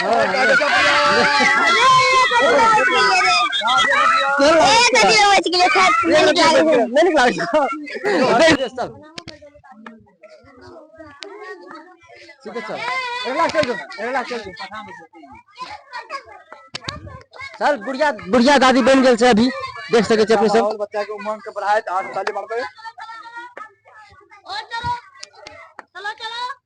हँ हँ हँ सर बुढ़िया बुढ़िया दादी बनि गेल छै अभी देख सकै छियै अपने सब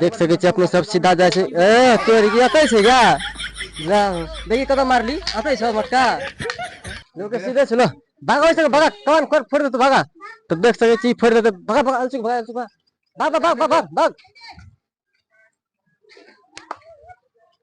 देख सकै छियै अपने सब सीधा जाइ छै ए तोर एतै छै गा देखी कतऽ मारली एतै छ मोटका लोक सीधे छै ने भागा ओइसे भागा कान खोर फोड़ देतौ भागा तऽ देख सकै छी फोड़ देतौ भागा भागा अलसी भागा अलसी भागा भाग भाग भाग भाग भाग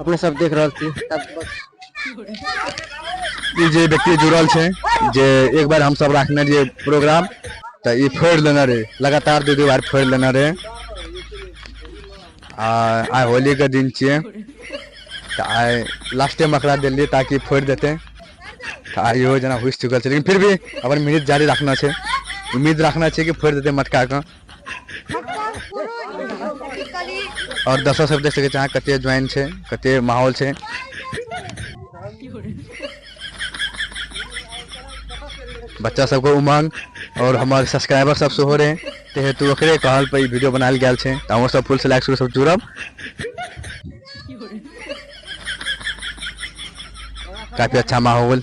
अपने सब देख रहल छी ई जे व्यक्ति जुड़ल छै जे एक बार हम सब रखने रहिए प्रोग्राम तऽ ई फोड़ लेने रहे लगातार दू दू बार फोड़ लेने रहे आ आइ होली के दिन छियै तऽ आइ लास्टे में एकरा दिलियै ताकि फोड़ देते तऽ आइ इहो जेना हुसि चुकल छै लेकिन फिर भी अपन मिहित जारी रखना छै उम्मीद रखना छै कि फोड़ देते मटका के और दर्शक सब देख सके छे कते ज्वाइन छे कते माहौल छे बच्चा सब को उमंग और हमारे सब्सक्राइबर सब से हो रहे ते हेतु ओकरे कहल पे वीडियो बनाल गेल छे त हमर सब फुल से लाइक सब जुड़ब काफी अच्छा माहौल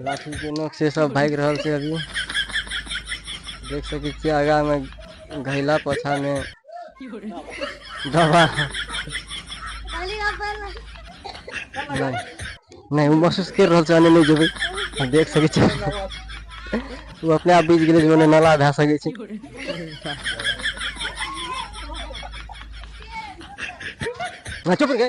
लाठी के नोक से सब भागि रहल छै अभी देख सकै छियै आगा मे घैला पोछा मे दबा नहि नहि ओ महसूस कर रहल छै अने नहि जेबै देख सकै छियै ओ अपने आप बुझि गेलै जे ओने नाला भए सकै छै चुप गए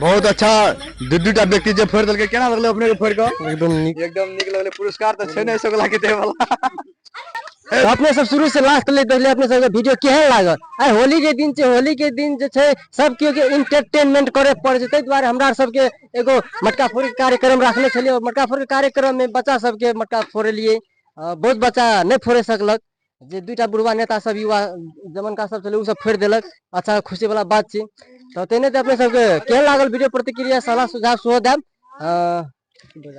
बहुत अच्छा दू दूटा व्यक्ति जे फोड़ देलकै केना लगलै अपने के फोड़ के एकदम नीक एकदम नीक लगलै पुरस्कार तऽ छै नहि सकला के देवला अपने सब शुरू से लास्ट ले देखले अपने सबके वीडियो केहन लागल आइ होली के दिन छै होली के दिन जे छै सब केओ के इंटरटेनमेंट करे पड़े छै ताहि दुआरे हमरा सबके एगो मटका फोड़ कार्यक्रम रखले छलियै मटका फोड़ कार्यक्रम में बच्चा सबके मटका फोड़लियै बहुत बच्चा नहि फोड़े सकलक जे दूटा बुढ़वा नेता सब युवा जमनका सब छलै ओ सब फोड़ि देलक अच्छा खुशी वाला बात छी तऽ ते नहि तऽ अपने सबके केहन लागल वीडियो प्रतिक्रिया सलाह सुझाव सेहो देब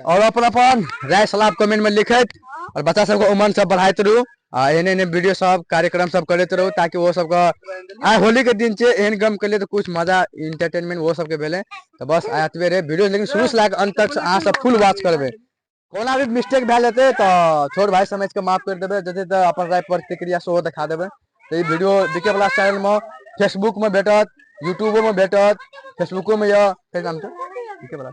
आओर अपन अपन राय सलाह कमेंट मे लिखैत आओर बच्चा सबके उमन सब बढ़ाइत रहू आ एहने एहने वीडियो सब कार्यक्रम सब करैत रहू ताकि ओ सबके आइ होली के दिन छै एहन गम केलियै तऽ कुछ मजा इंटरटेनमेंट ओहो सबके भेलै तऽ बस आय एतबे रहे वीडियो लेकिन शुरू से लए कऽ अन्त तक अहाँ सब फुल वॉच करबै ओना भी मिस्टेक भए जेतै तऽ छोट भाय समझ कऽ माफ करि देबै जेतै तऽ अपन राय प्रतिक्रिया सेहो देखा देबै तऽ ई वीडियो देखै वला चैनल मे फेसबुक मे भेटत यूट्यूबो मे भेटत फेसबुको मे यऽ फेर नाम छै देखै बला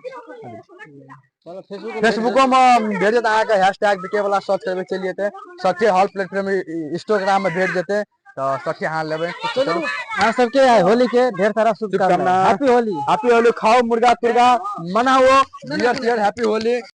फेसबुको मे भेटत अहाँके हैश टैग बिके वाला सर्च करबै चलि जेतै सच्चे हॉल प्लेटफॉर्म इंस्टाग्राम मे भेट जेतै तऽ सच्चे अहाँ लेबै चलू अहाँ सबके होली के ढेर सारा शुभकामना हैप्पी होली हैप्पी होली खाओ मुर्गा तुर्गा मनाओ बियर तियर हैप्पी होली